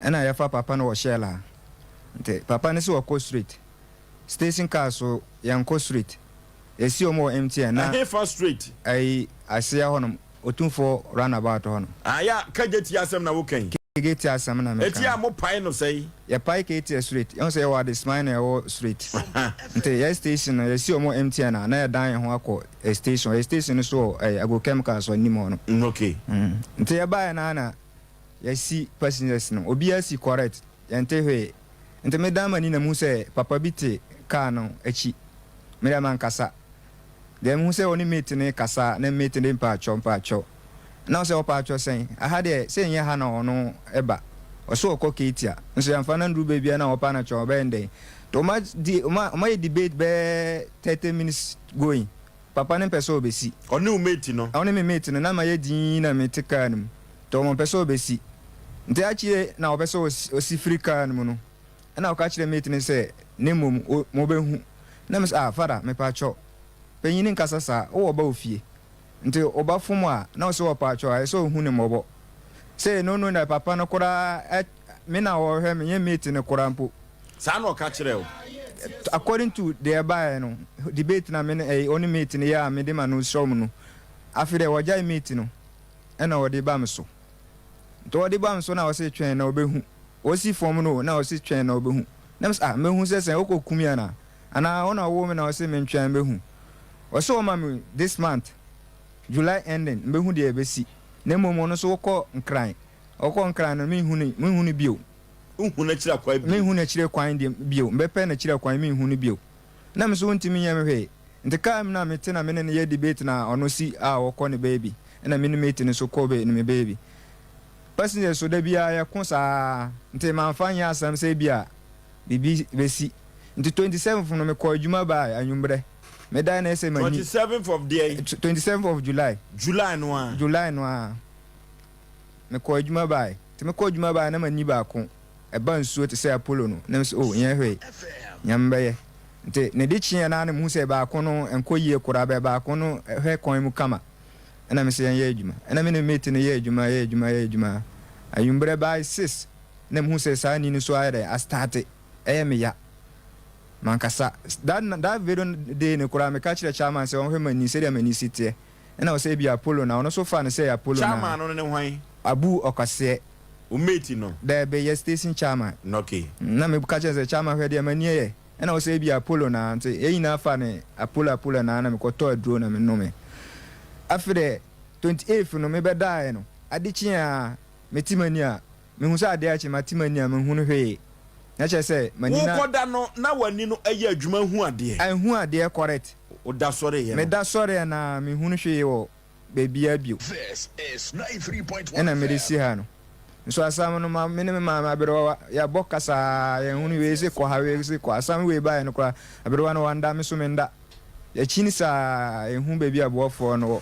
Ɛna yɛfa papa no wɔ shell a nti papa no se ɔkɔ street station car so yɛnkɔ street esi ɔmo wɔ mtn na Ɛhefa street? Ɛyi aseɛ hɔ nom otumfoɔ round about hɔ nom. Aah ya kagye tie asɛm na wo ka yi. Kagye tie asɛm na me ka. Ɛti a mo pae no sɛi. Yɛ pae kagye tie street yɛhu sɛ yɛwɔ adesman na yɛwɔ street nti yɛ station no yɛsi ɔmo wɔ mtn a na yɛ dan yɛ ho akɔ yɛ station yɛ station no so wɔ ɛyi agro chemicals hɔ anim hɔ nom. Nti yɛ baeɛ no ara na Yɛasi passengers no, obiara si correct, yɛnte hwee. Nti medan m'ani na mehu sɛ papa bi te car no akyi. Me deɛ mankasa. Deɛ mehu sɛ ɔne mate no rekasa na mate no de mpaatwɔ mpaatwɔ. Na ɔsɛ ɔpaatwɔ sɛn? Aha deɛ sɛ ɛnyɛ ha na ɔno ba. Ɔse ɔkɔ Katia. Nso yɛmfa no nduru baabi a na ɔpa no twɛn ɔbɛyɛ no dɛn? Nti wɔn adi wɔn a wɔn ayɛ debate bɛyɛ thirty minutes going. Papa no mpɛ sɛ ɔbɛsi. Ɔne wo mate no? Ɔne me mate no. Na mayɛ dinn na mete car no mu. Tom ɔmpɛ sɛ ɔbɛsi. Nti akyire na ɔpɛ sɛ ɔsi firi kaa no mu no, ɛna ɔka kyerɛ mate no sɛ, na mmom mobɛhu. Na me sɛ, ah, Father, mepaakyɛw, panyin nkasa saa, wowɔ ɔba wɔ fie. Nti wo ba fom a, na wo sɛ wɔpaakyɛw a, ɛsɛ sɛ ɔhu no mmɔbɔ. Sei, no no na papa no koraa, me na ɔrehwɛ me, ɛnyɛ mate no koraa mpo. Saa na ɔka kyerɛɛ wo? According to deɛ ɛbaeɛ no, debate na me ne, ɔne mate no yɛ a mede m'ano srɛ wɔn no, afei deɛ wɔagyae mate no. na ɔde ba me so. Nti ɔde ba me so na ɔse twɛn na ɔbɛhu. Ɔsi fam no o na ɔse twɛn na ɔbɛhu. Na mese ah mɛhu sɛ sɛn, wokɔ ku me anaa? Anaa wo na wowoo me na wose mentwɛn mɛhu. Ɔse ɔma me this month, July ending, mbɛhu deɛ ɛbɛsi. Na mmom ɔno nso ɔkɔ Nkran. Ɔkɔ Nkran no menhu no, menhu no bio. Wonhu n'akyire akwan bio? Menhu n'akyire kwan bio, mɛpɛ n'akyire kwan menhu no bio. na me so wontumi nyɛ me hwee. Nti car mu na me te na me ne no yɛ debate na ɔno si a ɔkɔ ne baabi ɛna me ne mate no so kɔ me baabi. Passengers so da biara yɛ ko saa nti manfa nyɛ asɛm sɛ ebia biribi bɛsi. Nti twenty seventh no me kɔɔ adwuma baa anwummerɛ. Me dae na ɛsɛ manyin. Twenty seventh of deɛn? Twenty seventh of July. July no ara? July no ara. Me kɔɔ adwuma baaɛ. Nti me kɔɔ adwuma baaɛ na manyin baako. ɛba nsuo te sɛ Apolo no, na mesɛ, oh, nyɛ hwee, Nyame bɛyɛ. Nti, ne de kyeeɛ no ara na mehu sɛ baako no nkɔ yie koraa, bɛ baako no hwɛ kwan mu kama. Ɛna mesɛ yɛnyɛ adwuma. Ɛna me ne me mate no yɛ adwuma, yɛ adwuma, yɛ adwuma. Anwummerɛ bɛae six na mehu sɛ saa ani no nso ayɛ dɛn, astarte, ɛyɛ me ya. Mankasa, that, that very day no koraa, meka kyerɛɛ Chairman sɛ ɔnhwɛ m'ani, sɛdeɛ m'ani si teɛ. Nna ɔsɛ ebi Apollo na ɔno so faa no sɛ ɛyɛ Apollo naa. Chairman no ne hwan? Abu Ɔkwaseɛ. Wo mate no? Daabi, yɛ station chairman. Na ok. Nna me ka kyerɛ no sɛ chairman hwɛ deɛ m'ani yɛ. Nna ɔsɛ ebi Apollo naa. Nti yɛ nyinaa faa no Apollo Apollo naa na me kɔ tɔɔ aduro na me nome. Afei deɛ, 28th no me bɛdaaɛ no, ade kyeeɛ aa, mete m'ani a, Mehu sɛ adeɛ akye, mate m'ani a menhunu hwee, na kyerɛ sɛ, m'ani na. Wokɔda no, na w'ani no yɛ adwuma hu adeɛ. Anhu adeɛ, correct. Woda sɔreeɛ no. Meda sɔreeɛ no ara, menhunu hwee wɔ baabiara bio. This is ninety three point one FM. Ɛna mede si ha no. Nso asam no, ma me ne me maame aberewa, yɛabɔ ka saa, yɛnhunu wei se kɔ ha, wei se kɔ ha. Asam wei baeɛ no koraa, aberewa no wannda, me nso mennda. Yɛkyin saa, yɛnhu baabi a boafoɔ no wɔ.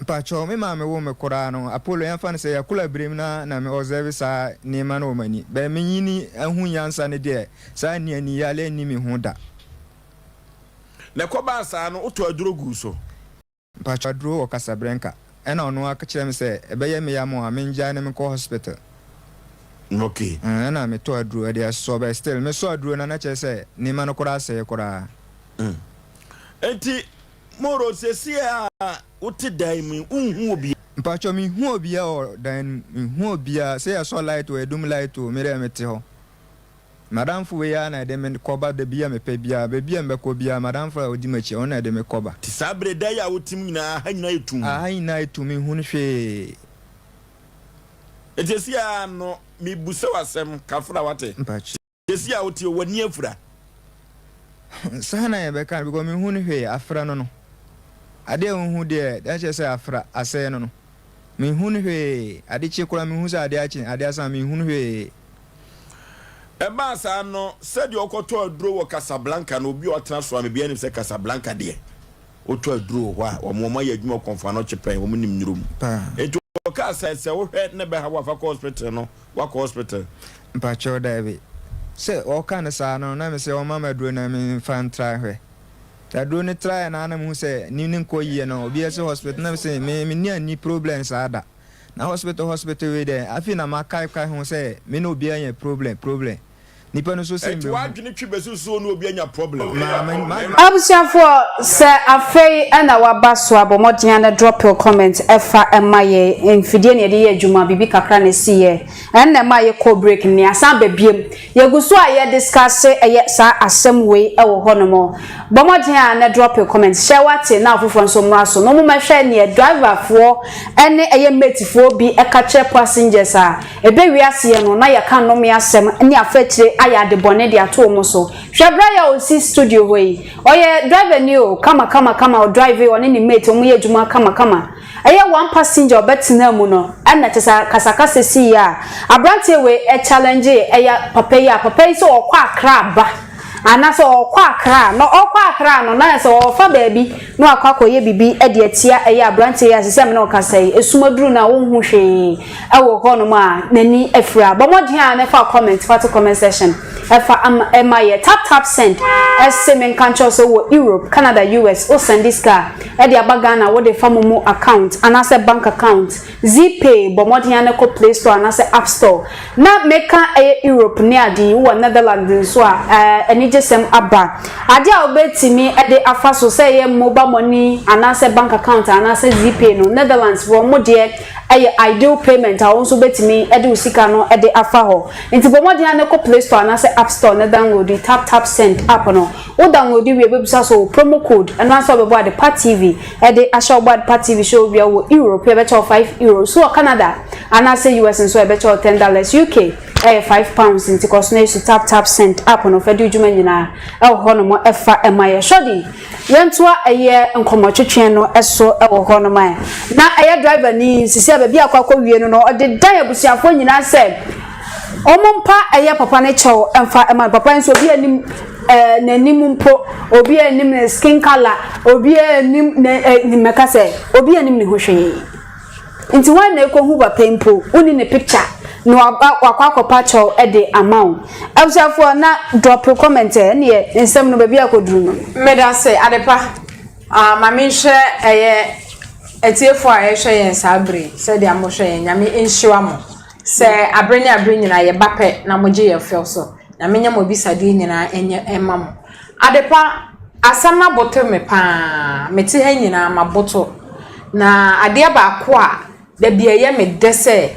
Mpakyɛw, me maame woo me koraa no, Apollo, yɛmfa no sɛ yɛakol abirem na na me observe saa nneema no wɔ m'ani. But menyini ahu nyansa no deɛ, saa nniani yale nni me ho da. Na ɛkɔbaa saa no, wotɔɔ aduro guu so? Mpakyɛw, aduro wɔ Casablanca. Ɛna ɔno ara ka kyerɛɛ me sɛ, ɛbɛyɛ me ya mo a, mengyae na menkɔ hospital. Okay. Ɛɛ, ɛna metɔɔ aduro, ɛde asɔ, but still, mesɔ aduro no a, na kyerɛ sɛ nneema no koraa asɛe koraa. Enti, Moro, seesei a wote dan mu yi, wonhu obiara? Mpakyɛw, minhu obiara wɔ dan no mu, minhu obiara, sɛ yɛsɔ light o, yɛdum light o, me dɛ mete hɔ. M'adamfo wei ara na ɛde me kɔba da bi a mepɛ biara, baabi a mebɛkɔ biara, m'adamfo a odi m'akyi, ɔno na ɛde me kɔba. Te saa bere da yi a wote mu nyinaa, ha nyinaa yɛ tumm. Ha nyinaa yɛ tumm, minhu no hwee. Enti seesei ara no, mirebisa wo asɛm, Kafra, woate? Mpakyɛw. Seesei a woteɛ, w'ani afura? Saa na yɛbɛka no, because menhu no hwee, afra no no. Adeɛ a wonhu deɛ, deɛ akyerɛ sɛ afra, asɛe no no. Menhu no hwee, ade kye koraa mehu sɛ adeɛ akye, adeɛ asa, menhu no hwee. Ɛbaa saa no, sɛdeɛ ɔkɔtɔ aduro wɔ Casablanca no, obi a ɔtena Soame biara nim sɛ Casablanca deɛ, wotɔ aduro wɔ hɔ a, wɔn, wɔayɛ adwuma wɔ Kɔmfoano Kyepɛn, wɔnim nnuro mu. Paa. Enti ɔkaa sɛ, sɛ wohwɛ ne bɛha wo a, fa kɔ hospital no. Wakɔ hospital. Mpakyɛw daabi. Sɛ ɔka no saa no na mesɛ ɔmma me aduro na menfa ntra nhwɛ. Aduro no traeɛ no ara na mehu sɛ anim no nkɔ yie no obiara se hospital na mese me menni ani problem saa da. Na hospital hospital wei deɛ afei na makaekae ho sɛ me ne obiara anya problem problem. Nipa no so sen bɛ hu. Ɛti w'adwene twi bɛsusuo no obi anya problem. Abusuafoɔ sɛ afei na waba so a bɔ mmɔden a na drop your comment fa ma yɛn. Mfidie na yɛde yɛ adwuma biribi kakra na ɛsi yɛ ɛna ɛma yɛ kɔ break na yɛasan aba biom. Yɛgu so a yɛ discuss ɛyɛ saa asɛm wei wɔ hɔ nom. Bɔ mmɔden a na drop your comment hyɛ wate na afoforɔ nso mmra so na wɔn mmɛhwɛ neɛ driver foɔ ɛne ɛyɛ mate foɔ bi ɛka kyerɛ passengers a Ɛbɛ wiase yɛ no, na yɛka nnome asɛm ne afakyire ayɛ ade bɔne de ato wɔn so. Hwɛ bra yi a ɔsi studio hɔ yi. Ɔyɛ driver ni o, kama kama kama, ɔdrive, ɔne ne mate, wɔyɛ adwuma kama kama. Ɛyɛ one passenger a ɔbɛtenaa mu no na kyerɛ sɛ akasakasa siiɛ a abranteɛ wei challenge ɛyɛ papa yi a, papa yi sɛ ɔkɔ Accra ba anaa sɛ ɔkɔ Accra a, na ɔkɔ Accra no na ayɛ sɛ ɔfa baabi na wakɔ akɔyɛ biribi de atia ɛyɛ abranteɛ yi a seisei a me ne wo kasa yi, esum aduru no a wonhu hwee. wɔ hɔnom a n'ani afira a bɔ mmɔden a na fa comment fa to comment section fa ama ɛma yɛ tap tap send ɛse me nka nkyerɛ sɛ wɔ Europe Canada US wo send sika ɛde aba Ghana wo de fa momo account anaasɛ bank account zpay bɔ mmɔden a na kɔ play store anaasɛ app store na meka ɛyɛ Europe ne ade yi wɔ Netherlands nso a ɛɛ anigyesɛm aba ade a wobɛtumi ɛde afa so sɛ ɛyɛ mobile money anaasɛ bank account anaasɛ zpay no Netherlands foɔ mo deɛ Ɛyɛ ideal payment a wo nso wobɛtumi de wo sika no de afa hɔ. Nti bɔ mmɔden ara na kɔ Play Store anaasɛ App Store na downloadi TapTapSend app no. Wo downloadi wie a ɛbɛbisa sɛ ɔwɔ promo code, ɛno ara nso ɛbɛbɔ Adepa TV de ahyɛ wo. Wobɔ Adepa TV hyɛ wo wie a, wowɔ Europe a ɛbɛkyɛ wo five Euros, wowɔ Canada anaasɛ US nso a ɛbɛkyɛ wo ten dollars, UK ɛyɛ five pounds. Nti kɔ so na yɛ su TapTapSend app no, fa di wo dwuma nyinaa wɔ hɔnom fa ma yɛn. Shorty Yɛntoa ɛyɛ nkɔmɔtwetweɛ no so wɔ hɔ nom ae. Na ɛyɛ driver ni sisi a baabi a akɔ akɔ wie no no ɔde dan abusuafoɔ nyinaa sɛ ɔmo mpa ɛyɛ papa no kyɛw mfa ɛma no. Papa yi nso obiaa nim ɛɛ n'anim mpo, obiaa nim ne skin colour, obiaa nim ne ɛɛ mɛka sɛ obiaa nim ne ho hwee. Nti wan na ekohu wapa yi mpo wonni ne picture na waba wakɔ akɔpa kyɛw de ama wo. Abusuafoɔ na drop comment ɛ ɛneɛ nsɛm no baabi a ɛkɔduru no. Medase adepa ah ma menhwɛ ɛyɛ atiefoɔ a ɛhwɛ yɛn saa bere yi sɛdeɛ mohwɛ yɛn nyame nhyira mo sɛ abere ne abere nyinaa yɛba pɛ na mogye yɛn fɛw so nyame nyɛ mo abisadeɛ nyinaa ɛnyɛ ɛma mo Adepa, asɛm no abotow me paa. Mete ha nyinaa mabotow. Na adeɛ baako a da biara ɛyɛ me dɛ sɛ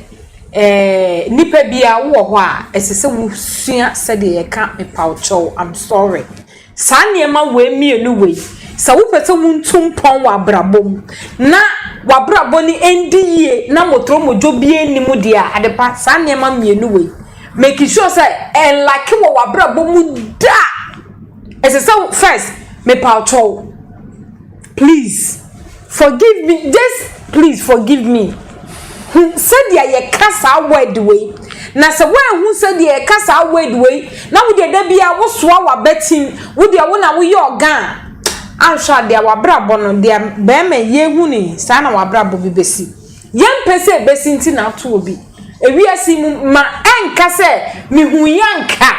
nnipa bi a wowɔ hɔ a, ɛsɛ sɛ wosua sɛdeɛ yɛka mepawkyɛw, I'm sorry. Saa nneɛma wei mmienu wei, sɛ wopɛ sɛ wontu mpɔn wɔ abrabɔ mu na w'abrabɔ no ɛndi yie na mɔtorɔmɔdwo biara nni mu deɛ a, Adepa, saa nneɛma mmienu wei Make sure sɛ ɛnlake wɔ w'abrabɔ mu da. Ɛsɛ sɛ first mepaw kyɛw. Please forgive me just please forgive me. Hu sɛdeɛ yɛka saa word wei. Na sɛ woanhu sɛdeɛ yɛka saa word wei na wodeɛ da biara wosoa w'abatim wodeɛ wo na woyɛ ɔga a, anhwɛ a deɛ w'abrabɔ no deɛ bɛrima yi yɛnhu no yi saa na w'abrabɔ bi bɛsi. Yɛmpɛ sɛ ɛbɛsi nti na ato obi. Ewiase mu ma ɛnka sɛ mehuui anka a,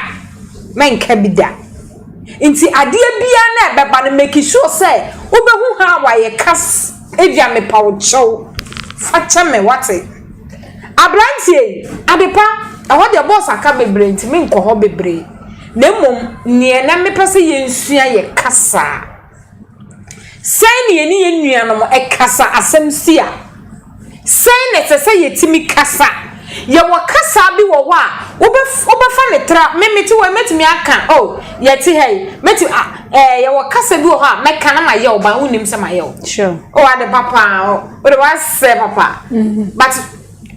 mɛnka bi da. Nti adeɛ biara no a ɛbɛba no make sure sɛ wobɛhu how a yɛka ebia mepa wo kyɛw fa kyɛ me wate. Aberanteɛ yi, Adepa, ɛhɔ deɛ boss aka bebree nti menkɔ hɔ bebree na mmom deɛ na mepɛ sɛ yɛnsua yɛ kasa. Sɛn na yɛne yɛn nuanom kasa asɛm si a, sɛn na ɛsɛ sɛ yetumi kasa? Yɛwɔ kasa bi wɔ hɔ a, wobɛf wobɛfa no tra. Me mete hɔ yi, mɛtumi aka, o, oh, yɛte ha yi, mɛtumi, ah, ɛɛ, eh, yɛwɔ kasa bi wɔ hɔ a, mɛka na mayɛ wo ba, wonnim sɛ mayɛ wo. Sure. O, oh, ade papa, o, oh, wode wasɛ papa. Mm -hmm. But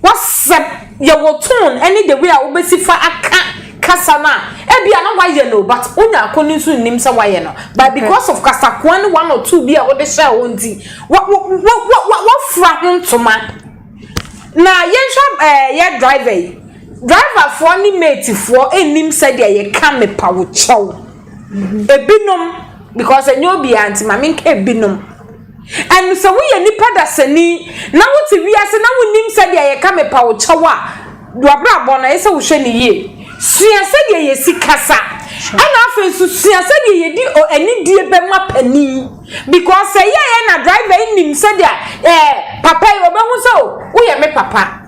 Na sɛ yɛwɔ tone ne the way a wobɛsi fa aka kasa no a, ebia na woayɛ no o, but wo nua ko no nso nnim sɛ woayɛ no, but because of kasakoa ne one or two bi a wode hyɛɛ hɔ nti, wa, wa, wa, wa, wa, wafura ho ntoma. Na yɛnhwɛ ɛɛ, yɛ driver yi. Driverfoɔ ne matefoɔ nnim sɛdeɛ yɛka mepa wo kyɛw. Ebinom, because ɛnyɛ obiara nti, ma menka ebinom. Ɛnde sɛ woyɛ nipa dasani na wote wiase na wunnim sɛdeɛ yɛka mepa wo kyɛw a, w'abrabɔ no ɛyɛ sɛ wohwɛ no yie. Sua sɛdeɛ yɛsi kasa ɛna afei nso sua sɛdeɛ yɛdi anidie bɛ ma panin because sɛ yɛyɛ na driver nnim sɛdeɛ ɛɛ papa yi ɔbɛhu sɛ o woyɛ me papa.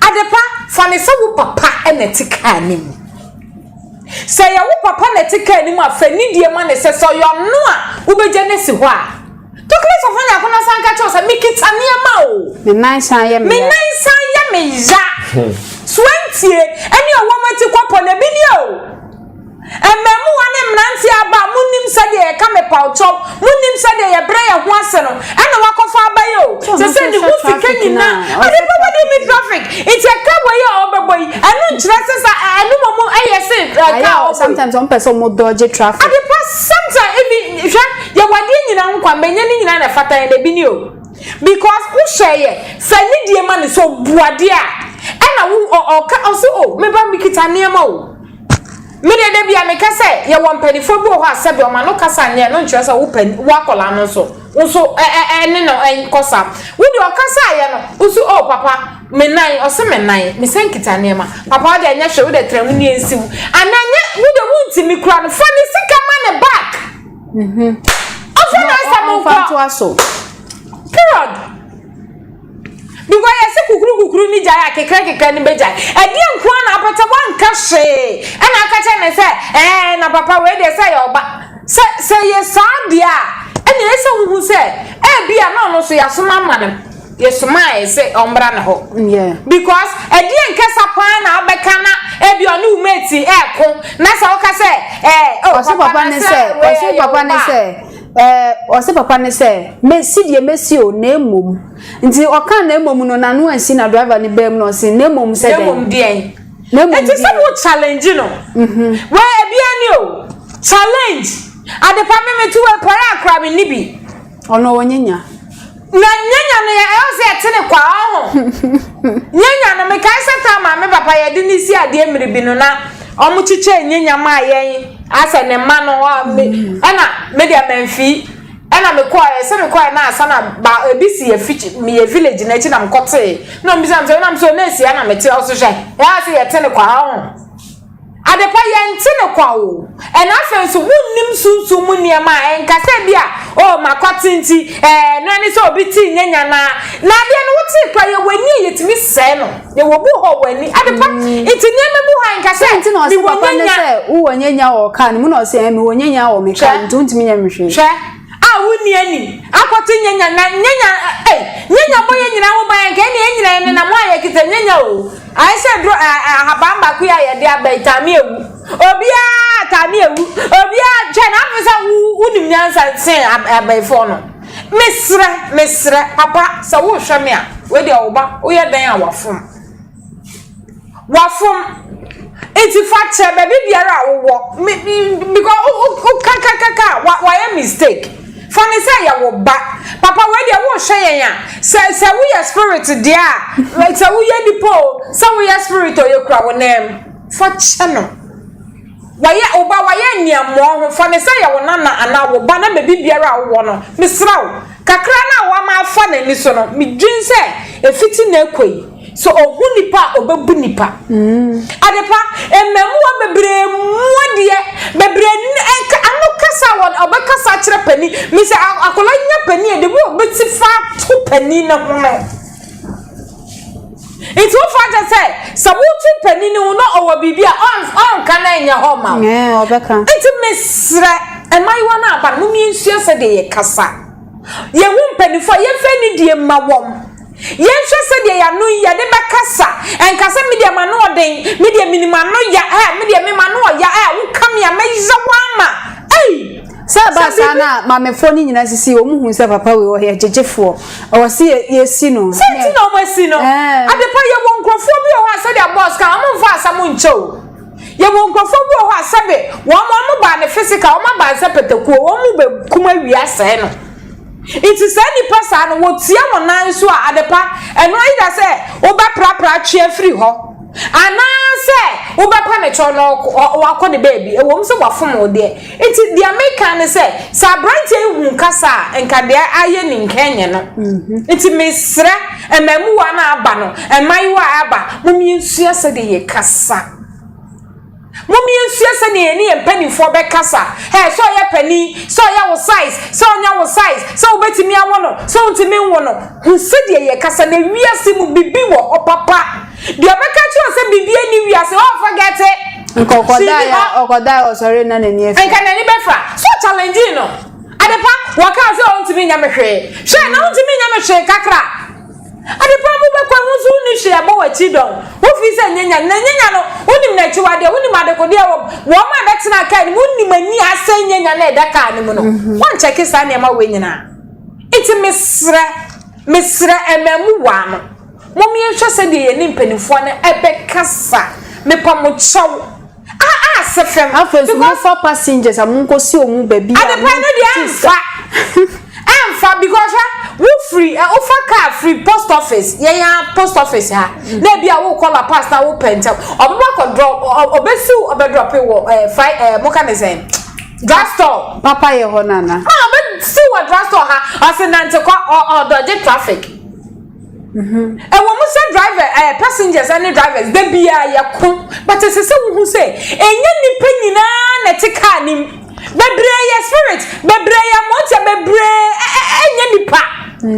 Adepa, fa no sɛ wo papa na ɛte kaa no mu. Sɛ ɛyɛ wo papa na ɛte kaa no mu a, fa nidie ma no sɛ sɛ ɔyɛ ɔno a, wobɛgya no asi hɔ a. Tokle sɔfo Nyarko na san ka kyerɛ wo sɛ, Mekita nneɛma o. Me nan san yɛ me ya. Me nan san yɛ me ya. Soantie, ɛne ɔwɔ mu ati kɔpɔ na ɛbi nie o. Mmaamua ne mmeranteɛ aba a monim sɛdeɛ yɛka mepawkyɛw monim sɛdeɛ yɛbrɛ yɛn ho ase no ɛna wakɔfa aba yi o sɛ sɛ ne ho sika nyina ɔde pa bɛde mi traffic nti ɛka wɔ yi a ɔbɛbɔ yi ɛno nkyerɛ sɛ sa ɛno mɔ mu ɛyɛ se ɛka ɔbɔ yi sometimes ɔmo pɛ sɛ ɔmo dɔgye traffic ade pa sometimes ebi hwɛ yɛwɔ adeɛ nyina ho kwan bɛnyɛ ne nyina na ɛfata yɛn ebi ni o because wohyɛ yɛ sɛ ne die ma ne sɛ ɔbuadeɛ a ɛna wo ɔka ɔso o meba mekita nneɛma o Me deɛ da bia meka sɛ yɛwɔ mpanifoɔ bi wɔ hɔ a sɛbi ɔma no kasa nyɛ no nkyerɛ sɛ wo pɛ wo akɔla no nso wo nso ɛne no ɛnkɔ sa wo deɛ ɔkasa ayɛ no wo so oh papa me nan ɔse me nan me sɛ nkita nneɛma papa wo deɛ ɛnyɛ hwɛ wo deɛ trɛ ho ni ɛnsi wo anaa nyɛ wo deɛ wo nti me kura no fa ne sika ma ne back mhm ɔfa na asɛm nkɔ period Because yɛse kukuru kukuru ne gyae a kekra kekra ne bɛgyae. Ɛdeɛ nko ara na apɛtɛ wanka hwee ɛna aka kyerɛ ne sɛ ɛɛ na papa wei deɛ sɛ yɛ ɔba. Sɛ sɛ yɛ saa deɛ a ɛna ɛsɛ sɛ wohu sɛ ɛbi a na ɔno nso yɛasoma ama no yɛsoma a ɛsɛ ɔmbra ne hɔ. Because ɛdeɛ nkasa paa na abɛka na ɛbi ɔne wo mate ɛɛko na sɛ woka sɛ ɛɛ oh papa ne sɛ wei ɛyɛ ɔba. Ɛɛ, ɔse papa no sɛ, Mesi deɛ mesi o, na mmom. Nti ɔkaa na mmom no, n'ano ansi na driver no baam na ɔse, Na mmom sɛ dɛn? Na mmom deɛn? Na mmom deɛn? Enti sɛ wo challenge no, wɛ ɛbia ni o, challenge, adepa me mete wɛ pɔre a koraa menni bi. Ɔno ɔnyɛ nya. Na nyɛ nyame a ɛyɛ sɛ ɛte ne kwa ɔho nyɛ nyame mekae sɛ taa maame papa yɛde ne si adeɛ mmere bi no na ɔmo kyekyɛ nyɛ nyame a yɛn asɛ ne mma no ɛna mede amanfi ɛna mekɔɛ sɛ mekɔɛ na asa na ba ebi si yɛ fiti yɛ village na akyi na mekɔtee na ɔmo bisa me sɛ wonam sɛ ɔna esia na mete ɔso hwɛ ɛyɛ sɛ yɛte ne kwa ɔho Adepa, yɛnte no kwa o. Ɛna afei nso, wonnim sunsum mu nneɛma a ɛnka sɛ ebia, oh, m'akwati nti, eh, ɛno ara ne sɛ obi tee nyɛ nyanaa. Na adeɛ no, wotee koraa, yɛwɔ ani a yɛtumi sɛe no. Yɛwɔ bu hɔ wɔ ani. Adepa, nti nneɛma bi hɔ a ɛnka sɛ mewɔ nyanya. Hwɛ. Hwɛ. a wonni ani akɔte nyanya na nyanya ɛ nyanya bɔ yɛn nyinaa ho ban yɛn kɛn yɛn nyinaa yɛn nenam ho ayɛ kisɛ nyanya o ayɛ sɛ duro ɛ ɛ ahaban baako yi a yɛde aba yi taame ewu obiara taame ewu obiara kyɛ na afei sɛ wo wonim nyansa sen abɛɛfoɔ no mesrɛ mesrɛ papa sɛ wohwɛ me a wei deɛ wo ba woyɛ dɛn a wafom. Wafom. Enti fa kyɛ baabi biara a wowɔ. Me me because wo wo wokakakaka a wa wayɛ mistake. Fa no sɛ yɛ wo ba. Papa wei deɛ wohwɛ yɛn a sɛ sɛ woyɛ spirit deɛ a sɛ woyɛ nipa o sɛ woyɛ spirit o yɛkura wo nan mu. Fa kyɛ no. Wayɛ wo ba wayɛ nneɛmoɔ ho fa no sɛ yɛ wo nana anaa wo ba na baabi biara a wowɔ no mesrɛ wo kakra no a wama afa n'ani so no medwen sɛ ɛfiti na ɛkɔ yi. So ohu nipa a obebu nipa? Adepa, mmɛmoa bebree mua deɛ bebree nka ano kasa a wɔn ɔbɛkasa akyerɛ panin. Me sɛ akwadaa nya panin a, de bi obesi fa to panin no ho no. Nti wofa akyɛ sɛ sɛ wotu panin no ho na ɔwɔ biribi a ɔnka na ɛnyɛ hɔ ma wo. Nti mesrɛ mmaayewa no aba no, momie nsua sɛdeɛ yɛkasa. Yɛhu mpanimfoɔ a yɛmfa anidie mma wɔn. Yɛnhwɛ sɛdeɛ yɛn ano yi yɛde bɛkasa. Nka sɛ, Me deɛ m'ano ɔden. Me deɛ menim ano ya. Eh, me deɛ me m'ano ɔya. Eh, woka me a, mɛyera wo ama. Ei! Sɛ ɛba saa no a, Mamefoɔ no nyinaa sisi, wɔn hu sɛ papa wei ɔyɛ gyegyefoɔ. Ɛwɔ sɛ yɛsi no. Sɛ nti na wɔasi no. Adepa, yɛwɔ nkurɔfoɔ bi wɔ hɔ a, sɛdeɛ Boss ka no, wɔmfa asɛm nkyɛ o. Yɛwɔ nkurɔfoɔ bi wɔ hɔ a sɛbe wɔn wɔn baa no physical wɔn aba no sɛ patakuo wɔn mu bɛ kum awie asɛe no nti saa nipa saa no wɔtua wɔn nan so a adepa ɛno ayi da sɛ wobɛ prapra twea firi hɔ anaasɛ wobɛpa ne kyɛw na wakɔ ne baabi ɛwɔ mu sɛ wafom wo deɛ Nti deɛ meka ne sɛ, sɛ abranteɛ yi hun kasa a, nka deɛ ayɛ ni nka ɛnyɛ no. Nti mesrɛ mmɛmuwa no a aba no, mmaayewa a aba, mom yɛnsua sɛdeɛ yɛkasa. Mom yɛnsua sɛdeɛ yɛne yɛn mpanimfoɔ bɛkasa. Hɛ, sɛ ɔyɛ panin, sɛ ɔyɛ wo size, sɛ ɔnyɛ wo size, sɛ wobɛtumi awo no, sɛ wontumi nwo no, hu sɛdeɛ yɛkasa. Na wiase mu, biribi wɔ hɔ papa. Deɛ ɔbɛka kyerɛ wo sɛ biribiara ni wiase hɔ ɔfa gɛte. Nka ɔkɔdaa ya ɔkɔdaa ɔsɔre na n'ani afira. Nka n'ani bɛfira. So challenge no. Adepa wɔkaa sɛ ɔntumi nyɛ me hwee. Hwɛ na wontumi nyɛ me hwee kakra. Adepa mu bɛkɔ ɛho nso wonni hwee ɛbɔ w'akyi dɔn. Wofii sɛ nyanya na nyanya no wonim n'akyiwadeɛ wonim adekodeɛ wɔ wɔn a ɛbɛtena kaa no mu wonim ani asɛe nyanya na ɛda kaa no mu no. Wɔnkyɛke saa nneɛma wei nyinaa. Nti mesrɛ mesrɛ ɛmɛmu waa no. Mom yɛnhwɛ sɛdeɛ yɛne mpaninfoɔ no bɛkasa mepa mo kyɛw ah ah sɛ fɛm. Afei nso mo fa passengers a mo nkɔ si ɔmo baabi a mo ti sika. Adepa no deɛ ɛnfa ɛnfa because hwɛ wo firi ɛ wo fa car firi post office yɛn ya post office ha na ebi a wo kɔ la pass na wo pɛ ntɛm ɔmo bɛ kɔ drop ɔbɛ si wo ɔbɛ drop wɔ ɛ fry ɛ mo ka ne sɛn drug store. Papa yɛ hɔ nana. Ah ɔbɛ si wɔ drug store ha ɔsi nante kɔ ɔ ɔdɔgye traffic. Ɛwɔ mu sɛ driver ɛɛ passengers ɛne drivers da biara yɛ ko but ɛsɛ sɛ wohu sɛ ɛnyɛ nipa nyinaa na ɛte car ne mu bebree yɛ spirit bebree yɛ mmotia bebree ɛnyɛ nipa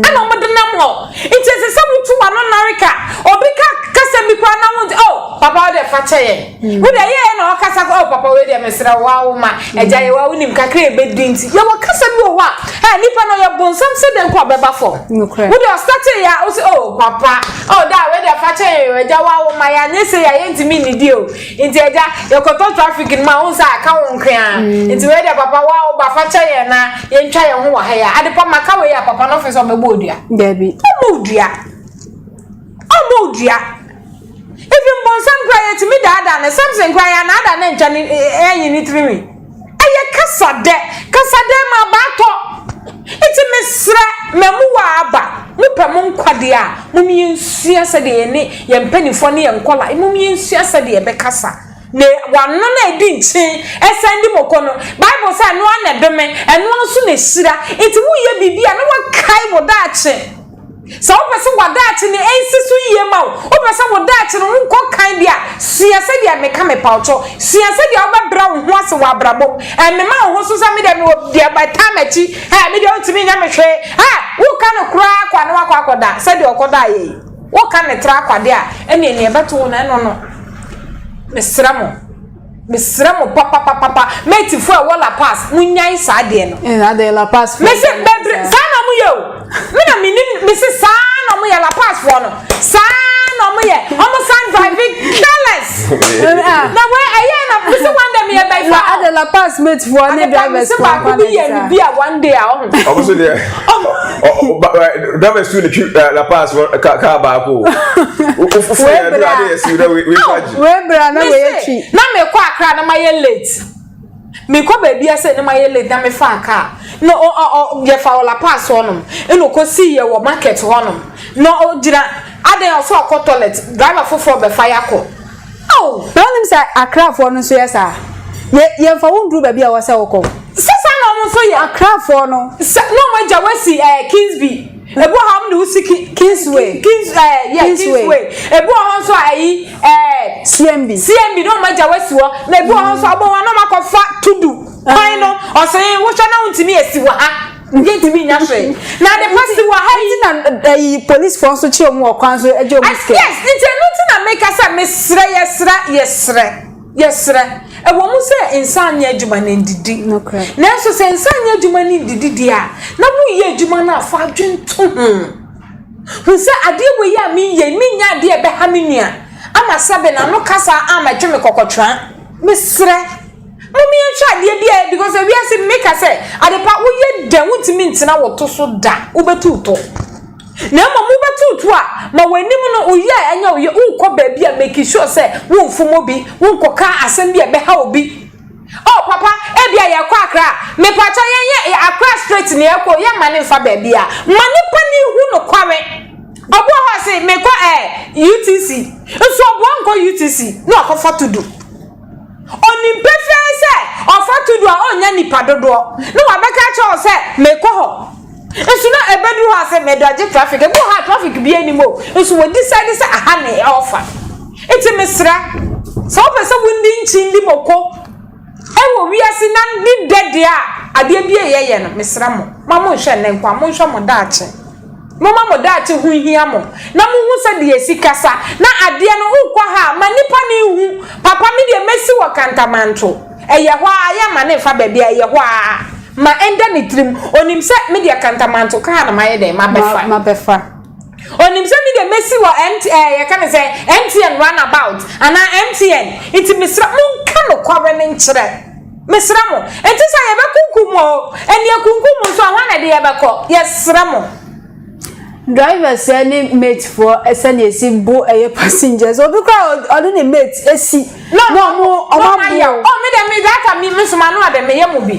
ɛna wɔn de nam hɔ nti ɛsɛ sɛ wotu wɔn ano nare ka obi ka kasa bi koraa na wɔn ti oh papa ɔde fa kyɛ yɛn. Wo de yɛ na ɔkasa kɔ oh, papa wei deɛ mesrɛ wo awo ma agya yɛ wa wonim kakra ɛbɛdi nti yɛ wɔ kasa bi wɔ hɔ a ɛ nipa no yɛ bonsam sɛ dɛn kɔ ɔbɛba fam wo de ɔstate yɛ a wo sɛ oh papa oh da wei deɛ fa kyɛ yɛ agya wa awo ma yɛ anyɛ sɛ yɛ ayɛ ntumi nnidi o nti agya yɛkɔtɔ traffic no ma wo sɛ aka wo nkea mm. nti wei deɛ papa wa awo ba fa kyɛ yɛ na yɛntwa yɛ ho wɔ ha yɛ ade pa ma ka wei a papa no ɔfɛ sɛ ɔbɛbɔ odua ɔmɔ odua ɔmɔ odua Even bonsam kura yɛtumi daadaa no Samson kura yɛanaadaa no antwa ne anyi ne tirinwi ɛyɛ kasa dɛ kasa dɛ ma aba atɔ nti mesrɛ mamu wɔ aba mopɛ mo nkwa deɛ a mom yɛnsua sɛdeɛ yɛne yɛn mpanimfoɔ ne yɛn nkɔla mom yɛnsua sɛdeɛ yɛbɛkasa na wano na ɛdi nkyen ɛsan di moko no Bible sɛ ɛno ara na ɛdome ɛno ara nso na ɛhyira nti woyɛ biribi a na wakae wo daakye Sɛ wopɛ sɛ w'adaakye no nsi so yie ma wo, wopɛ sɛ wo daakye no nkɔ kann bi a, sua sɛdeɛ meka mepawtɔ. Sua sɛdeɛ wobɛbrɛ wo ho ase wɔ abrabɔ mu. Ɛmema wo ho so sɛ medeɛ mewɔ deɛ bɛtaa m'akyi, ɛ medeɛ wontumi nyɛ me hwee. Ɛ woka no koraa kwa na wakɔ akɔda sɛdeɛ ɔkɔdaa yɛ yi. Woka no tra kwa deɛ a, ɛneɛ neɛ ɛbɛto wo no ɛno no. Mesrɛ mo. Mesrɛ mo papapapapa mate fo a ɛwɔ La Paz mo nyae saa deɛ no. Ɛna eh, deɛ La Paz fo. Mese bɛdre saa na ɔmo yɛ o. Me na menim mese saa na ɔmo yɛ La Paz fo no. Saa na ɔmo yɛ ɔmo san drive careless na wei ɛyɛ na bisi one day mi yɛ bɛyi fa. ade la pass mate fo ne drivers fo akwa na ɛsɛ. ade pass bi yɛ ne bi a one day a ɔmo. ɔmo so deɛ. dama su ne twi la pass ka ka ba ko o fo fo ya dura de su da we we faji we bra na we ya twi na me ko akra na ma ye late me ko ba bia se na ma ye late na me fa ka no o o ye fa la pass honom e no ko si ye wo market honom no o gira aden o so ko toilet driver fofo be fa ya ko Ao! Na wonim sɛ Akrafoɔ no nso yɛ saa? Yɛ, yɛmfa wo nduru baabi a ɛwɔ sɛ wokɔ. Sɛ saa na wɔn nso yɛ. Akrafoɔ no. Sɛ, na wɔn agya wasi ɛɛ Kingsby. Ebi wɔ hɔ a wɔn de wosi ki, Kingsway. Ki, Kings, ɛɛ, yɛ, Kingsway. Kingsway. Ebi wɔ hɔ nso a ayi, ɛɛ. CMB. CMB na wɔn agya wasi hɔ. Na ebi wɔ hɔ nso a wɔn a na wɔn akɔfa Tudu. Kwan no, ɔsee, wohwɛ na wontumi esi wɔ ha. Yɛntumi nnya hwee. Na ade pa si wɔ ha yi. Nti na ɛyi polisfoɔ nso kye wɔn wɔ kwan so gye wɔn sika. Yes, nti ɛno nti na meka sɛ mesrɛ, yɛsrɛ, yɛsrɛ, yɛsrɛ. Ɛwɔ mu sɛ nsa anyɛ adwuma na ndidi. Nanso sɛ nsa anyɛ adwuma ne ndidi deɛ a, na woyɛ adwuma no a fa adwene to ho. Hu sɛ adeɛ wɔ yi a meyɛ, menyɛ adeɛ a ɛbɛha me nua ama sɛbe n'ano kasa ama ɛtwe me kɔkɔtraa. Mesrɛ. Mom yɛnhwɛ adeɛ bi a because ewiase meka sɛ adepa woyɛ dɛ wontumi ntena wo to so da wobɛtu wo to na mmom wobɛtu wo to a ma w'anim no woyɛ a ɛnyɛ woyɛ wonkɔ baabi a make sure sɛ womfom obi wonkɔka asɛm bi a ɛbɛha obi oh papa ebi a yɛkɔ akra mepakyɛ yɛnyɛ akra straight ne yɛkɔ yɛ ma ne mfa baabi a ma nipa ne hu no kware ɔboɔ hɔ se mekɔ eh UTC nso ɔboɔ nkɔ UTC na wakɔfa to do Onim pefee sɛ ɔfa to du a onnya nnipa dodoɔ na wabɛka akyerɛ wo sɛ mekɔ hɔ. Nso na ɛbɛduru hɔ a sɛ medɔgye traffic. Ebi wɔ hɔ a traffic biara nnim o, nso wɔ decide sɛ aha na ɔrefa. Nti mesrɛ, sɛ wopɛ sɛ wodi nkyindi moko wɔ wiase na ne dɛ deɛ a, adeɛ bi a yɛyɛ no, mesrɛ mo, mma monhwɛ nnɛ nko ara, monhwɛ mo daakye. Momma mo daakye ho nhia mo, na monhu sɛ deɛ ɛsi kasa na adeɛ no wokɔ ha a, ma nnipa no nhu. Papa, me deɛ mɛsi wɔ Kantamanto. Ɛyɛ hɔ ara, yɛ mma no mfa baabi a ɛyɛ hɔ ara ma ɛnda ne tirim. Ɔnim sɛ me deɛ Kantamanto kaa na mayɛ dɛn, mabɛfa. Mabɛfa. Ɔnim sɛ me deɛ mɛsi wɔ MT, ɛɛ, yɛka no sɛ MTN runabout anaa MTN. Nti mesrɛ, monka nokware no nkyerɛ. Mesrɛ mo, ɛnte sɛ yɛbɛkunkum mo o, ɛnni akunkum mo nso a, hwan na ɛde yɛbɛkɔ? Yɛsrɛ mo. Drivers ne mate foɔ sɛnea esi bo ɛyɛ passengers obi koraa ɔne ne mate esi na ɔmo ɔmo abo. Ɔ mi dɛ mi dɛ ata mi mi soma no adɛ mi yɛ mo bi.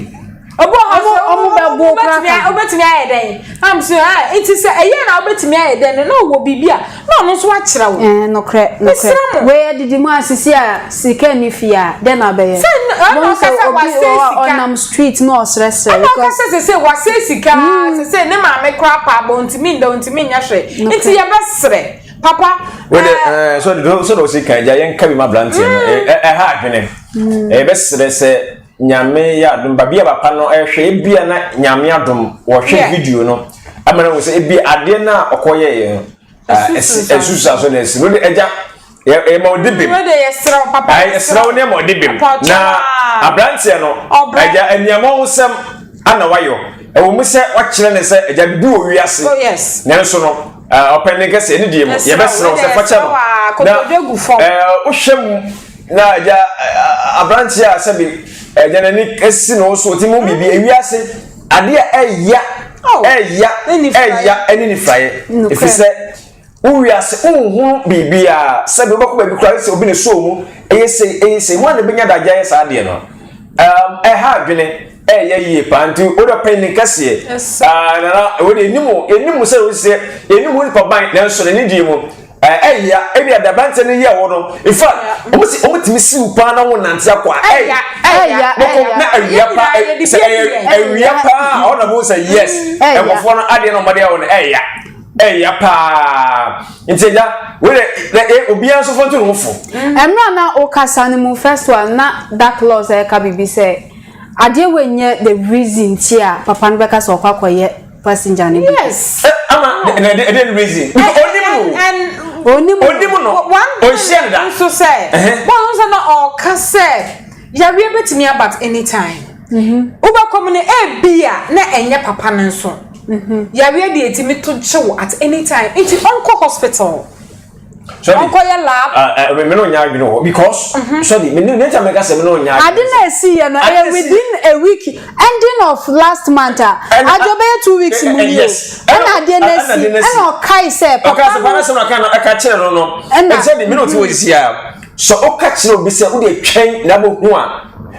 Obi ɔmo ɔmo ɔmo bɛ bo koraa ka. Obetumi ayɛ dɛn? Am so ah eti sɛ ɛyɛ na obetumi ayɛ dɛn no na ɔwɔ biribi a Na ɔno nso akyerɛ wo. Ɛɛ nokorɛ, nokorɛ. Wei adidi mu a sisi a sika nni fie a, dɛn na wobɛyɛ? Sɛ ɛna ɔka sɛ wasɛe sika. Wohu sɛ obi wɔ hɔ a ɔnam street na ɔresrɛsrɛ. Ɛna ɔka sɛ sese wasɛe sika ara, sese ne maame koraa paa bɔ ntumi nda ntumi nyɛ hwee. Nti yɛbɛsrɛ papa. Wode ɛɛ sɛ sɛ na ɔsi kan gya yɛn ka bi ma abranteɛ no ɛha adwene. Yɛbɛsrɛ sɛ. Nyame yɛ adom ba bia papa no ɛhwɛ ebia na nyame adom wɔhwɛ yeah. video no ama no sɛ ebia adeɛ no a ɔkɔ yɛyɛ no ɛsusa so na ɛsi no de ɛgya ɛma ɔde bem ɛsrɛ wo ne ɛma ɔde bem na aberanteɛ no ɛgya nneɛma ho sɛm ana wayɔ ɛwɔ mu sɛ wakyerɛ ne sɛ ɛgya bibi wɔ wiase oh, nanso no ɔpɛn ne nkɛseɛ ne deɛ mu yɛbɛsrɛ wo sɛ fakyɛ no na wohwɛ mu na agya aberanteɛ a sɛbi agya n'ani si ne wo so ɔtumi mu biribi ewiase adeɛ a ɛya ɛya ɛya ɛne nifraeɛ ɛfiri sɛ wo wiase wonhunu biribiaa sɛbi wobɛkɔ baabi koraa sɛ obi ne soo mu ɛyɛ sei ɛyɛ sei ho a na ɛbɛnya da agya yɛ saa adeɛ no ɛha adwene Ɛyɛ yie paa nti wode ɔpɛ ni kɛseɛ ah, nana wode ɛnim ɛnim sɛ wo sɛ ɛnim wo nipa ban nanso n'ani die mu ɛya ebi ada aberanteɛ no yɛ wɔ no in fact wɔn tumi siw paa na wɔn nante akɔ a ɛya ɛya ɛya na awia paa sɛ ɛyɛ awia paa ɔna mo sɛ yes nkɔfoɔ no adeɛ na ɔmɔdeɛ wɔ no ɛya ɛya paa nti ɛya wɔyɛ na ɛ obiara nso fɔntu ne ho fo. ɛmira na ɔkasa ne mu first one na dark laws ɛka bibi sɛ. Adeɛ wei nyɛ the reason nti a papa no bɛka sɛ ɔkɔ akɔyɛ passenger no bi. Yes. Eh, ama na ɛde ɛde reason. Nti eh, onim no. Eh, and onim no. Onim no. One thing Onhyia no da. nso sɛ, wɔn nso sɛ na ɔka sɛ yareɛ bɛtumi aba at any time. Mhm. Wobɛkɔ mu no ebi a na ɛnyɛ papa no nso. Mhm. Yareɛ deɛ ɛtumi to kyew at any time. Nti ɔnkɔ hospital. ɔnkɔyɛ lab. ɛɛ mɛ mɛ n'o nya adwene wɔ because sɛbi mɛ ne ta mɛ ka sɛ mɛ n'o nya. ade na esi yɛ no ɛyɛ within a week ending of last month a adi o bɛyɛ two weeks mu ni o ɛna adeɛ na esi ɛna ɔkae sɛ papa no ɔkae sɛ papa no ɛka kyerɛ no no ɛna sɛbi mɛ n'o ti wɔ sisi a sɛ ɔka kyerɛ obi sɛ o de twɛn na bɛ hu a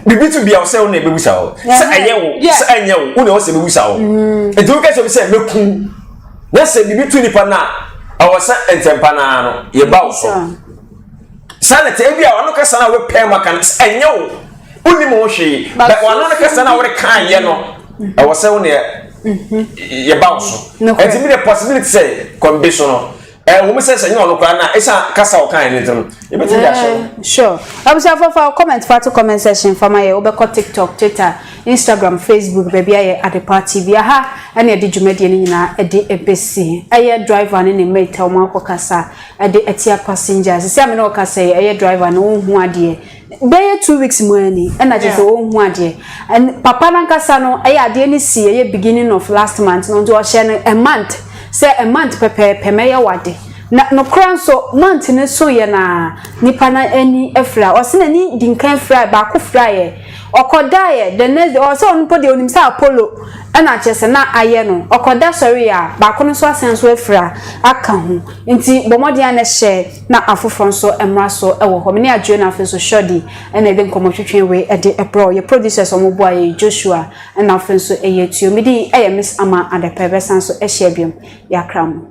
bibi tu bia ɔsɛ ɔna ebebusa hɔ sɛ ɛyɛ wo sɛ ɛnyɛ wo ɔna ɔsɛ ebebusa hɔ etu kɛse bi sɛ mɛ kun. Na sɛ biribi to nipa no a, ɛwɔ sɛ ntɛmpa no ara no yɛba wo so. Saa na ɛte. Ebia ɔno kasa no a wopɛ ma ka no, ɛnyɛ wo. Wonim ho hwee. Bɛ ɔno no kasa no a woreka ayɛ no, ɛwɔ sɛ wo ne yɛba wo so. Ɛti mi de possibility sɛ kɔmbe so no, Ɛwom sɛ sɛ nyɛ ɔno koraa na ɛsan kasa ɔkan ne ntɛm ebetumi de ahyɛ. Eh, sure. Abusuafo fa comment fa to comment section fa ma yɛ wobɛkɔ TikTok, Twitter, Instagram, Facebook baabi ayɛ Adepa TV. Aha ɛna ɛde dwumadie no nyinaa ɛde ɛbɛsi. Ɛyɛ driver ne ne mate a wɔn akɔ kasa ɛde ɛtia passengers. Sisi a me ne ɔkasa yi ɛyɛ driver no ɔnhu adeɛ. Bɛyɛ two weeks mu ara ni ɛna kyerɛ sɛ ɔnhu adeɛ and papa no ankasa no ɛyɛ adeɛ no sii ɛyɛ beginning of last month no nti ɔhyɛɛ no a month sɛ a month pɛpɛɛpɛ mɛyɛ w'ade na nokorɛ nso month no soeɛ no ara nipa no ani afira ɔse n'ani dinkan firaeɛ baako firaeɛ ɔkɔdaeɛ the next day ɔsɛ ɔno mpo deɛ ɔnim sɛ Apollo ɛna kyerɛ sɛ na ayɛ no ɔkɔda sɔreeɛ a baako no nso asan nso afira aka ho nti bɔ mmɔden a na hyɛ Na afoforɔ nso mmra so wɔ hɔ. Me ne Adjoa na afei nso Shordy na yɛde nkɔmmɔ twetwee wei de brɛɛ wo. Yɛ producers a wɔboa yɛn, Joshua na afei nso ɛyɛ Tuo. Me din yɛ Miss Ama Adepa. Yɛbɛsan nso ahyia biom. Yɛakra mo.